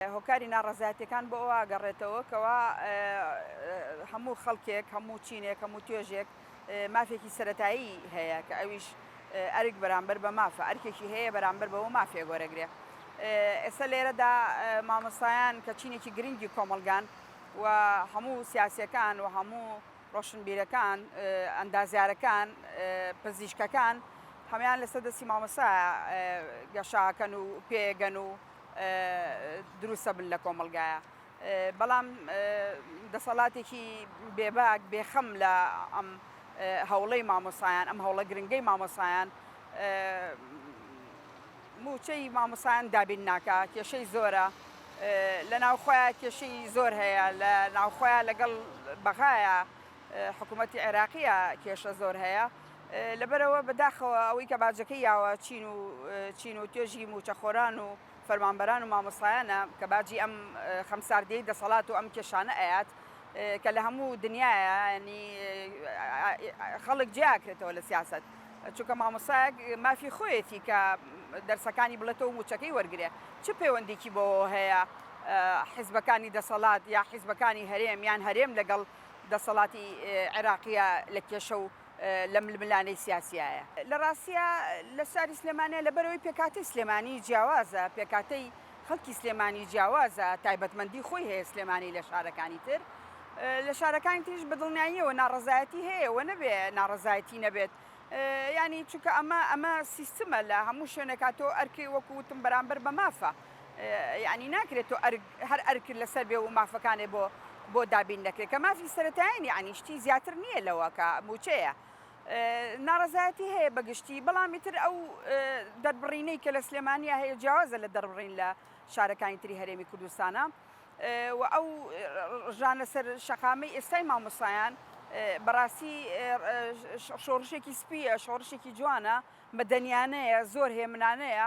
هۆکاری ناڕەزایەتیەکان بۆ ئەوە ئەگەڕێتەوە کەوا هەموو خەڵکێک، هەموو چینێک، هەموو توێژێک مافێکی سەرەتایی هەیە کە ئەویش ئەرک بەرامبەر بە مافە، ئەرکێکی هەیە بەرامبەر بەوە مافێک وەرەگرێ. ئێستا لێرەدا مامۆستایان کە چینێکی گرنگی کۆمەڵگان و هەموو سیاسیەکان و هەموو ڕۆشنبیرەکان، ئەندازیارەکان، پزیشکەکان هەموان لەسەر دەستی مامۆستا گەشە ئەکەن و پێ ئەگەن و دروستە بن لە کۆمەڵگایە بەڵام دەسەڵاتێکی بێباک بێخەم لە ئەم هەوڵەی مامۆسایان ئەم هەوڵە گرنگەی مامۆسایان موچەی مامۆسایان دابین ناکە کێشەی زۆرە لە ناوخۆیان کێشەی زۆر هەیە لە ناوخۆیان لەگەڵ بەغایە حکوومەتتی عێراقیە کێشە زۆر هەیە لەبەرئەوە بەداخەوە ئەوەی کە باجەکەی یاوە چین و چین و توێژی مووچەخۆران و فەرمانبەران و مامۆستایانە کە باجی ئەم خەمساردیەی دەسەڵات و ئەم کێشانە ئەیات کە لە هەموو دنیاە ینی خەڵک جیاکرێتەوە لە سیاست چونکە مامۆساک مافی خۆیەتی کە دەرسەکانی بڵێتەوە موچەکەی وەرگێ چ پەیوەندێکی بۆ هەیە حیزبەکانی دەسەڵات یا حیزبەکانی هەرێم یان هەرێم لەگەڵ دەسەڵاتی عێراقیە لە کێشە و لە ململانێی سیاسیایە. لە ڕاستیا لە شاری سلێمانیە لەبەرئەوەی پێکهاتەی سلێمانی جیاوازە، پێکهاتەی خەڵکی سلێمانی جیاوازە، تایبەتمەندی خۆی هەیە سلێمانی لە شارەکانی تر، لە شارەکانی تریش بە دڵنیاییەوە ناڕەزایەتی هەیە و نەبێ ناڕەزایەتی نەبێت یانی چونکە ئەمە ئەمە سیستمە لە هەموو شوێنێکا تۆ ئەرکی وەکو وتم بەرامبەر بە مافە. یەعنی ناکرێ تۆ ئەرک هەر ئەرکت لەسەر بێ و مافەکانێ بۆ بۆ دابین نەکرێ کە مافی سەرەتایین یەعنی شتی زیاتر نییە لەوە کە مووچەیە ناڕەزایەتی هەیە بە گشتی بەڵام ئیتر ئەو دەربڕینەی کە لە سلێمانیە هەیە جیاوازە لە دەربڕین لە شارەکانی تری هەرێمی کوردستانە و ئەو ڕژانە سەر شەقامی ئێستای مامۆسایان بەڕاستی شۆڕشێکی سپیە شۆڕشێکی جوانە مەدەنیانەیە زۆر هێمنانەیە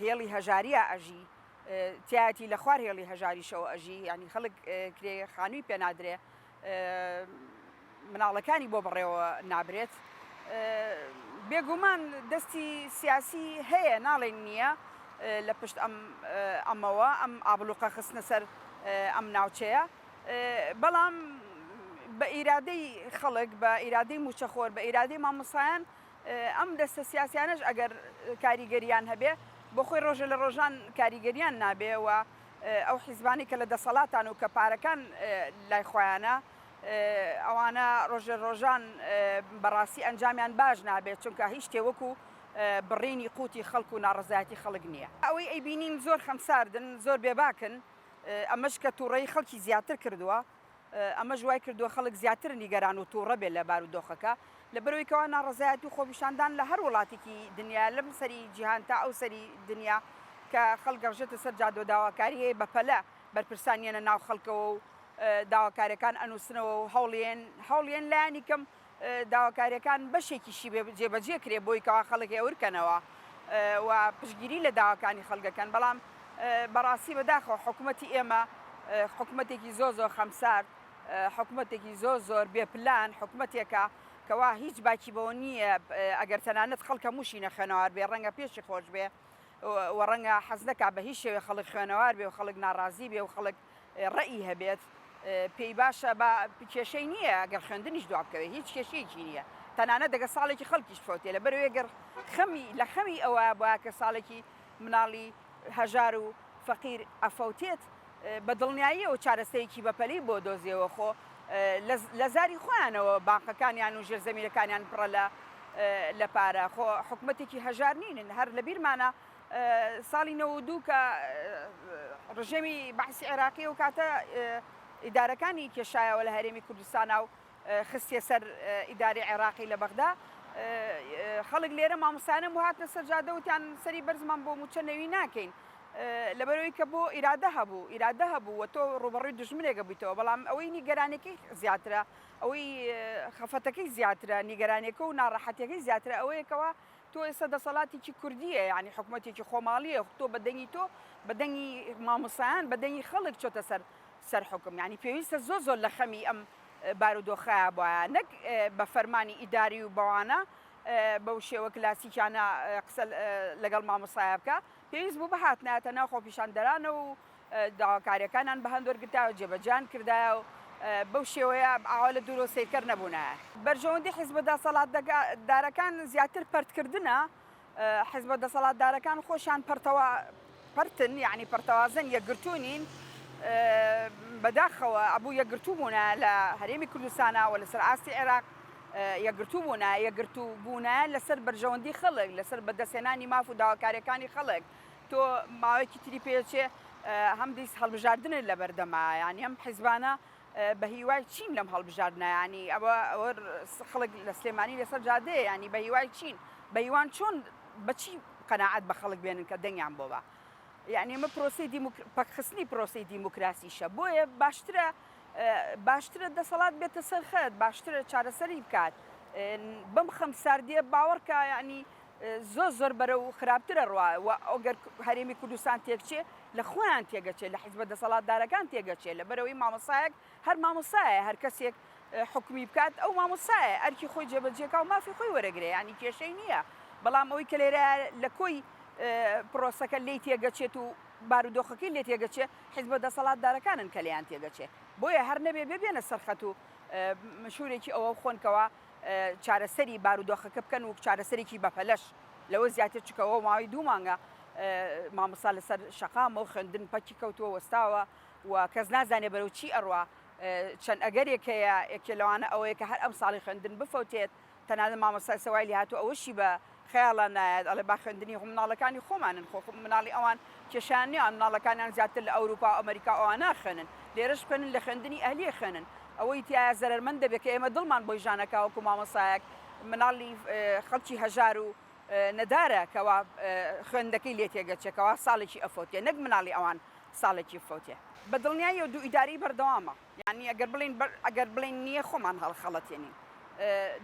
هێڵی هەژاریا ئەژی تیایەتی لە خوار هێڵی هەژاریشەوە ئەژی یعنی خەڵک کرێ خانووی پێ نادرێ مناڵەکانی بۆ بڕێەوە نابرێت بێگومان دەستی سیاسی هەیە ناڵێن نییە لە پشت ئەم ئەمەوە ئەم ئابلوقە خستنە سەر ئەم ناوچەیە بەڵام بە ئیرادەی خەڵک بە ئیرادەی موچەخۆر بە ئیرادەی مامۆسایان ئەم دەستە سیاسیانەش ئەگەر کاریگەریان هەبێ بۆخۆی ڕۆژە لە ڕۆژان کاریگەریان نابێ و ئەو حیزبانی کە لە دەسەڵاتان و کە پارەکان لای خۆیانە ئەوانە ڕۆژە ڕۆژان بەڕاستی ئەنجامیان باش نابێت چونکە هیچ شتێ وەکو بڕینی قوتی خەڵک و ناڕزایەتی خەڵک نییە ئەوەی ئەی بینین زۆر خەمساردن زۆر بێباکن ئەمەش کە تووڕەی خەڵکی زیاتر کردووە ئەمەش وای کردووە خەڵک زیاتر نیگەران و توڕە بێت لە بارودۆخەکە، لەبەرئەوەی کەوا ناڕەزایەتی و خۆپیشاندان لە هەر وڵاتێکی دنیایە لەم سەری جیهان تا ئەو سەری دنیا کە خەڵک گەڕژێتە سەر جادە و داواکاری هەیە بەپەلە بەرپرسان یەنە ناو خەڵکەوە و داواکاریەکان ئەنوسنەوە و هەوڵیەن هەوڵیەن لایەنی کەم داواکاریەکان بەشێکیشی بێ جێبەجێ کرێ بۆی کەوا خەڵک هێورکەنەوە و پشگیری لە داواکانی خەڵگەکەن بەڵام بەڕاستی بەداخەوە حکوومەتتی ئێمە حکوومەتێکی زۆ زۆر خەمسار حکوومەتێکی زۆ زۆر بێپلان حکوومەتێکە کەوا هیچ باکی بەوە نییە ئەگەر تەنانەت خەڵکە موشی نەخێنەوار بێ ڕەنگە پێشی خۆش بێ و ڕەنگە حەزنەکە بە هیچ شێوێ خەڵک خوێنەوار بێ و خەڵک ناڕازی بێ و خەڵک ڕەئی هەبێت پێی باشە با کێشەی نییە گەر خوێندنیش دواب کەوێت هیچ کێشەیەکی نییە تەنانە دەگە ساڵێکی خەڵکیش فەوتێ لە بەرەوەی گەر خەمی لە خەمی ئەوە با کە ساڵێکی مناڵی هەژار و فەقیر ئەفەوتێت بە دڵنیاییەوە چارەسەیەکی بەپەلی بۆ دۆزیەوە خۆ لە زاری خۆیانەوە بانقەکانیان و ژێر زەمینەکانیان پڕە لە لە پارە خۆ حکوومەتێکی هەژار نینن هەر لە بیرمانە ساڵی نەوەد و دوو کە ڕژێمی بەعسی عێراقی ئەو کاتە ئیدارەکانی کێشایەوە لە هەرێمی کوردستانا و خستیە سەر ئیداری عێراقی لە بەغدا خەڵک لێرە مامۆسایانم هاتنە سەر جادە وتیان سەری بەرزمان بۆ موچە نەوی ناکەین لەبەرەوەی کە بۆ ئیرادە هەبوو ئیرادە هەبوو و تۆ ڕوبڕوی دژمنێکە بوویتەوە بەڵام ئەوەی نیگەرانەکەی زیاترە ئەوەی خەفەتەکەی زیاترە نیگەرانەکە و ناڕەحەتەکەی زیاترە ئەوەیەکەوە تۆ ئێستا دەسەلاتێکی کوردیە یانی حکومەتێکی خۆماڵیە تۆ بە دەنگی تۆ بە دەنگی ماموسایان بە دەنگی خەلک چۆتە سەر سەر حوکم یانی پێویستە زۆر زۆر لە خەمی ئەم بارودۆخایە بایە نەک بە فەرمانی ئیداری و بەوانە بەو شێوە کلاسیکیانە قسە لەگەڵ ماموسایە بکە پێویست بوو بهاتنایەتە ناو خۆپیشاندەرانە و داواکاریەکانان بەهەند وەرگرتایەو جێبەجێیان کردایە و بەو شێوەیە ئاوا لە دوورەوە سەیرکەر نەبوونایە. بەرژەوەندی حیزبە دەسەڵاتدارەکان زیاتر پەرتکردنە، حیزبە دەسەڵاتدارەکان خۆشیان پەرتەوا پەرتن، یەعنی پەرتەوازەن، یەکگرتوو نین، بەداخەوە ئەبوو یەکگرتوو بوونایە لە هەرێمی کوردستانا و لەسەر ئاستی عێراق یەکگرتوو بوونایە، یەکگرتوو بوونایە لەسەر بەرژەوەندی خەڵک، لەسەر بەدەستهێنانی ماف و داواکاریەکانی خەڵک، تۆ ماوەیەکی تری پێچێ هەم دیس هەڵبژاردنت لەبەردەما ینی ئەم حیزبانە بە هیوای چین لەم هەڵبژاردنایانی ئەوە ئەوە خەڵک لە سلێمانی لەسەر جادەیە ینی بە هیوای چین بە هیوان چۆن بەچی قەنەعات بە خەڵک بێنن کە دەنگیان بۆ بە یعنی ئمە پرۆسی پەکخستنی پرۆسی دیموکراسیشە بۆیە باشترە باشترە دەسەڵات بێتە سەرخەت باشترە چارەسەری بکات بەم خەم ساردیە باوەڕکە ینی زۆر زۆر بەرەو خراپترە ڕوا و ئەگەر هەرێمی کوردستان تێکچێ لە خۆیان تێگەچێ لە حیزبە دەسەڵاتدارەکان تێگەچێ لە بەرەوەی مامۆسایەک هەر مامۆسایە هەر کەسێک حکومی بکات ئەو مامۆسایە ئەرکی خۆی جێبەجێکا و مافی خۆی وەرەگرێ ینی کێشەی نییە بەڵام ئەوی کە لێرە لە کۆی پرۆسەکە لی تێگەچێت و بارودۆخەکەی لێ تێگەچێ حیزبە دەسەڵاتدارەکانن کە لەیان تێگەچێ بۆیە هەر نەبێ ببێنە سەرخەت و مشورێکی ئەوە خۆنکەوە چارەسەری بارودۆخەکە بکەن وەک چارەسەرێکی بەپەلەش لەوە زیاتر چکە بۆ ماوەی دوو مانگە مامۆستا لەسەر شەقامە و خوێندن پەکی کەوتووە وەستاوە و کەس نازانێ بەرەو چی ئەڕوا چەند ئەگەرێک هەیە ئەکێ لەوانە ئەوەیە کە هەر ئەم ساڵی خوێندن بفەوتێت تەنانەت مامۆستا سەوای لێهاتوو ئەوەشی بە خەیاڵا نایەت ئەڵێ با خوێندنی خۆ مناڵەکانی خۆمانن خۆ مناڵی ئەوان کێشەیان نیە ئەوان مناڵەکانیان زیاتر لە ئەوروپا و ئەمەریکا و ئەوانە ئەخوێنن لێرەش بخوێنن لە خوێندنی ئەهلی ئەخوێنن ئەوەی تیایە زەرەرمەند دەبێ کە ئێمە دڵمان بۆی ژان ئەکا وەکو مامۆستایەک مناڵی خەڵکی هەژار و نەدارە کەوا خوێندنەکەی لێ تێگەچێ کەوا ساڵێکی ئەفەوتێ نەک مناڵی ئەوان ساڵێکی بفەوتێ بە دڵنیاییەوە دوو ئیدارەی بەردەوامە. یانی ئەگەر بڵێین بەر ئەگەر بڵێین نییە خۆمان هەڵخەڵەتێنین.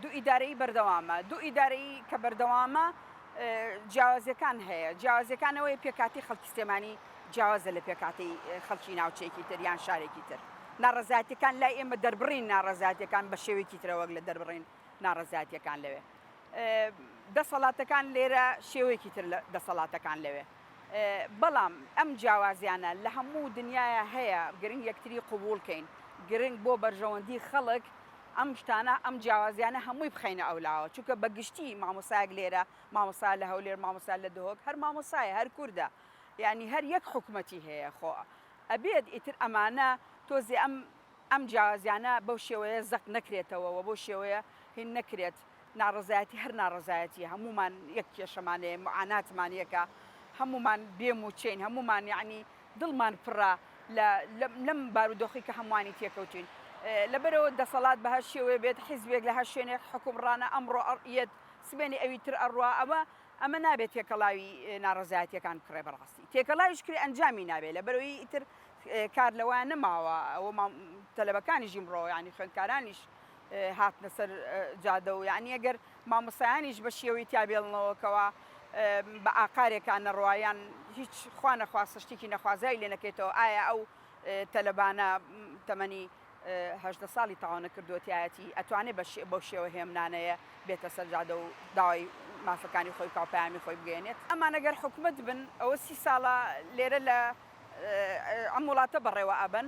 دوو ئیدارەیی بەردەوامە، دوو ئیدارەیی کە بەردەوامە جیاوازیەکان هەیە، جیاوازیەکان ئەوەیە پێکهاتەی خەڵکی سلێمانی جیاوازە لە پێکهاتەی خەڵکی ناوچەیەکی تر یان شارێکی تر، ناڕەزایەتیەکان لای ئێمە دەربڕین ناڕەزایەتیەکان بە شێوەیەکی ترە وەک لە دەربڕین ناڕەزایەتیەکان لەوێ. دەسەڵاتەکان لێرە شێوەیەکی تر لە دەسەڵاتەکان لەوێ. بەڵام ئەم جیاوازیانە لە هەموو دنیایا هەیە گرنگ یەکتری قبوڵ کەین گرنگ بۆ بەرژەوەندی خەڵک ئەم شتانە ئەم جیاوازیانە هەمووی بخەینە ئەو لاوە چونکە بە گشتی مامۆستایەک لێرە مامۆستا لە هەولێر مامۆستا لە دهۆک هەر مامۆستایە هەر کوردە یانی هەر یەک حکومەتی هەیە خۆ ئەبێت ئیتر ئەمانە تۆزێ ئەم ئەم جیاوازیانە بەو شێوەیە زەق نەکرێتەوە و بەو شێوەیە هین نەکرێت. ناڕەزایەتی هەر ناڕەزایەتیە هەموومان یەک کێشەمان هەیە معاناتمان یەکە هەموومان بێ موچەین هەموومان یعنی دڵمان پڕە لە لەم بارودۆخی کە هەمووانی تێکەوتین لەبەرەوە دەسەڵات بە هەر شێوەیە بێت حیزبێک لە هەر شوێنێک حکومڕانە ئەمڕۆ ئەڕیەت سبێنی ئەوی تر ئەڕوا ئەوە ئەمە نابێت تێکەڵاوی ناڕەزایەتیەکان بکڕێ بەڕاستی تێکەڵاویش کرێ ئەنجامی نابێ لە بەرەوەی ئیتر کار لەوە نەماوە ئەوە تەلەبەکانیش ئیمڕۆ ینی خوێندکارانیش هاتنە سەر جادە و یەعنی ئەگەر مامۆستایانیش بە شێوەی تیا بێڵنەوە کەوا بە ئاقارێکان نەڕوا یان هیچ خوا نەخواستە شتێکی نەخوازرای لێ نەکەێتەوە ئایا ئەو تەلەبانە تەمەنی هەدە ساڵی تاوانە کردوەتایەتی ئەتوانێت بە شێوە هێمنانەیە بێتە سەرجادە و داوای مافەکانی خۆی کاپیامی خۆی بگەێنێت ئەمانەگەر حکومت بن ئەوە سی ساڵە لێرە لە ئەم وڵاتە بەڕێوە ئەبن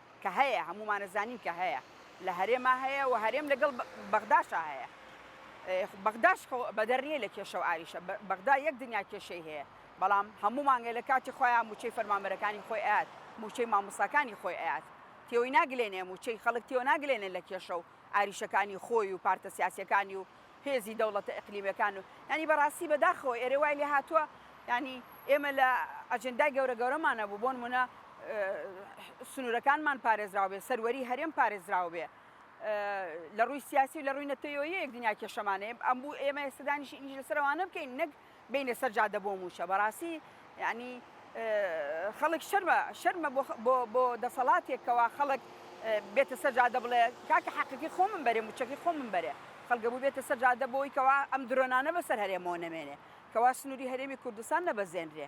کە هەیە هەموومانە زانین کە هەیە لە هەرێما هەیە و هەرێم لەگەڵ بەغداشا هەیە بەغداش بەدەر نیە لە کێشە و ئاریشە بەغدا یەک دنیا کێشەی هەیە بەڵام هەموو مانگە لە کاتی خۆیان موچەی فەرمانبەرەکانی خۆی ئاات موچەی مامۆساکانی خۆی ئاات تێوەی ناگلێنێ موچەی خەڵک تێوە ناگلێنێ لە کێشە و ئاریشەکانی خۆی و پارتە سیاسەکانی و هێزی دەوڵەتە ئیقلیمیەکان و یانی بەڕاستی بەداخەوە ئێرە وای لێ هاتوە یانی ئێمە لە ئەجندای گەورە گەورەمان نەبوو بۆ نمونە سنورەکانمان پارێزراو بێ سەروەری هەرێم پارێزراو بێ لە ڕووی سیاسی و لە ڕووی نەتەوەیەک دنیا کێشەمانەیە ئەمبوو ئێمە ئێستدانیش ئینجلسەرەوانە بکەین نەک بینە سەر جادە بۆ مووچە بەڕاستی یانی خەڵک شەرمە شەرمە بۆ دەسەڵاتێک کەوا خەڵک بێتە سەر جادە بڵێ کاکە حەقەکەی خۆمم بەرێ موچەکەی خۆمم بەرێ خەڵگە بوو بێتە سەر جادە بۆی کەوا ئەم درۆنانە بەسەر هەرێمەوە نەمێنێ کەوا سنووری هەرێمی کوردستان نەبەزێنرێ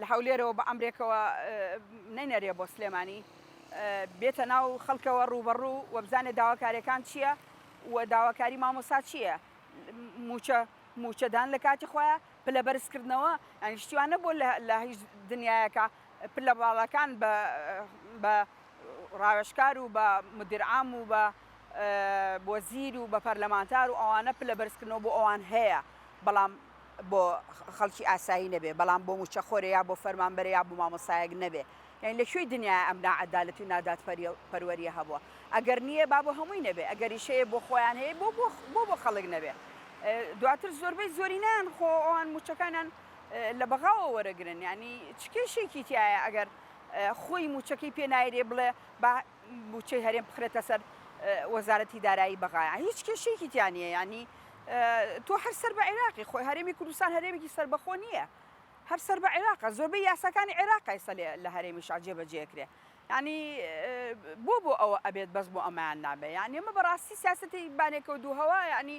لە هەولێرەوە بە ئەمرێکەوە نەینەرێ بۆ سلێمانی بێتە ناو خەڵکەوە ڕوبەڕوو وەبزانێ داواکاریەکان چییە و داواکاری مامۆسا چییە موچە موچەدان لە کاتی خۆیان پلە بەرزکردنەوە ئەنیشتیوانە بۆ لە هیچ دنیایەکە پلە باڵەکان بە ڕاوێشکار و بە مدیرعام و بە بۆ زیر و بە پەرلەمانتار و ئەوانە پلە بەرزکردنەوە بۆ ئەوان هەیە بەڵام بۆ خەڵکی ئاسایی نەبێ بەڵام بۆ موچەخۆرێ یا بۆ فەرمانبەرێ یا بۆ مامۆستایەک نەبێ یانی لە کوێی دنیایە ئەم ناعەدالەتی و نادادپەروەریە هەبووە ئەگەر نییە با بۆ هەمووی نەبێ ئەگەریش هەیە بۆ خۆیان هەیە بۆ بۆ بۆ خەڵک نەبێ دواتر زۆربەی زۆرینان خۆ ئەوان موچەکانیان لە بەغاوە وەرەگرن ینی چ کێشێکی تایە ئەگەر خۆی موچەکەی پێنایرێ بڵێ با بودچەی هەرێم بخرێتە سەر وەزارەتی دارایی بەغایە هیچ کێشێکی تیا نیە ینی تۆ هەر سەر بە عێراقی خۆی هەرێمی کوردستان هەرێمێکی سربەخۆ نییە هەر سەر بە عێراقە زۆربەی یاساکانی عێراق ئێستا لە هەرێمی شاجێ بەجێکرێ ینی بۆ بۆ ئەوە ئەبێت بەس بۆ ئەمایان نابێ یان ئێمە بەڕاستی سیاستی بانێکە و دووهەوە ینی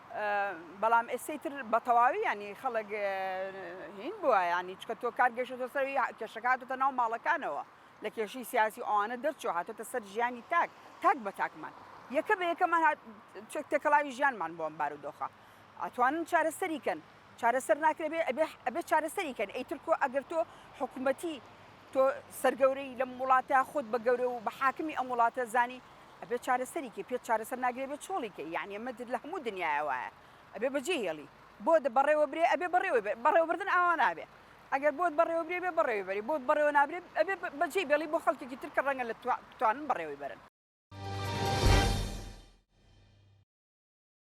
بەڵام ئێستەی تر بەتەواوی یانی خەڵک هین بووە یانی چکە تۆ کار گەشتە سەروی کێشەکاتتە ناو ماڵەکانەوە لە کێشی سیاسی ئەوانە دەرچۆ هاتۆتە سەر ژیانی تاک تاک بە تاکمان یەکە بە یەکەمان تێکەڵاوی ژیانمان بۆم بارودۆخە ئەتوانن چارەسەریکەن چارەسەر ناکرێبێ ئەبێ چارەسەریکەن ئەیتر کۆ ئەگەر تۆ حکوومەتی تۆ سەرگەورەی لەم وڵاتە خۆت بە گەورە و بە حاکمی ئەم وڵاتە زانی ئەبێت چارەسەری کەی پێت چارەسەر ناگرێ بێت چۆڵی کەی یانی ئەمە لە هەموو دنیایە وایە ئەبێ بەجێ هێڵی بۆ بەڕێوە برێ ئەبێ بەڕێوە بەڕێوەبردن ئاوا نابێ ئەگەر بۆت بەڕێوە برێ بێ بەڕێوی بەری بۆت بەڕێوە نابرێت ئەبێ بەجێ بێڵی بۆ خەڵکێکی ترکە ڕەنگە لە توانن بەڕێوەی بەرن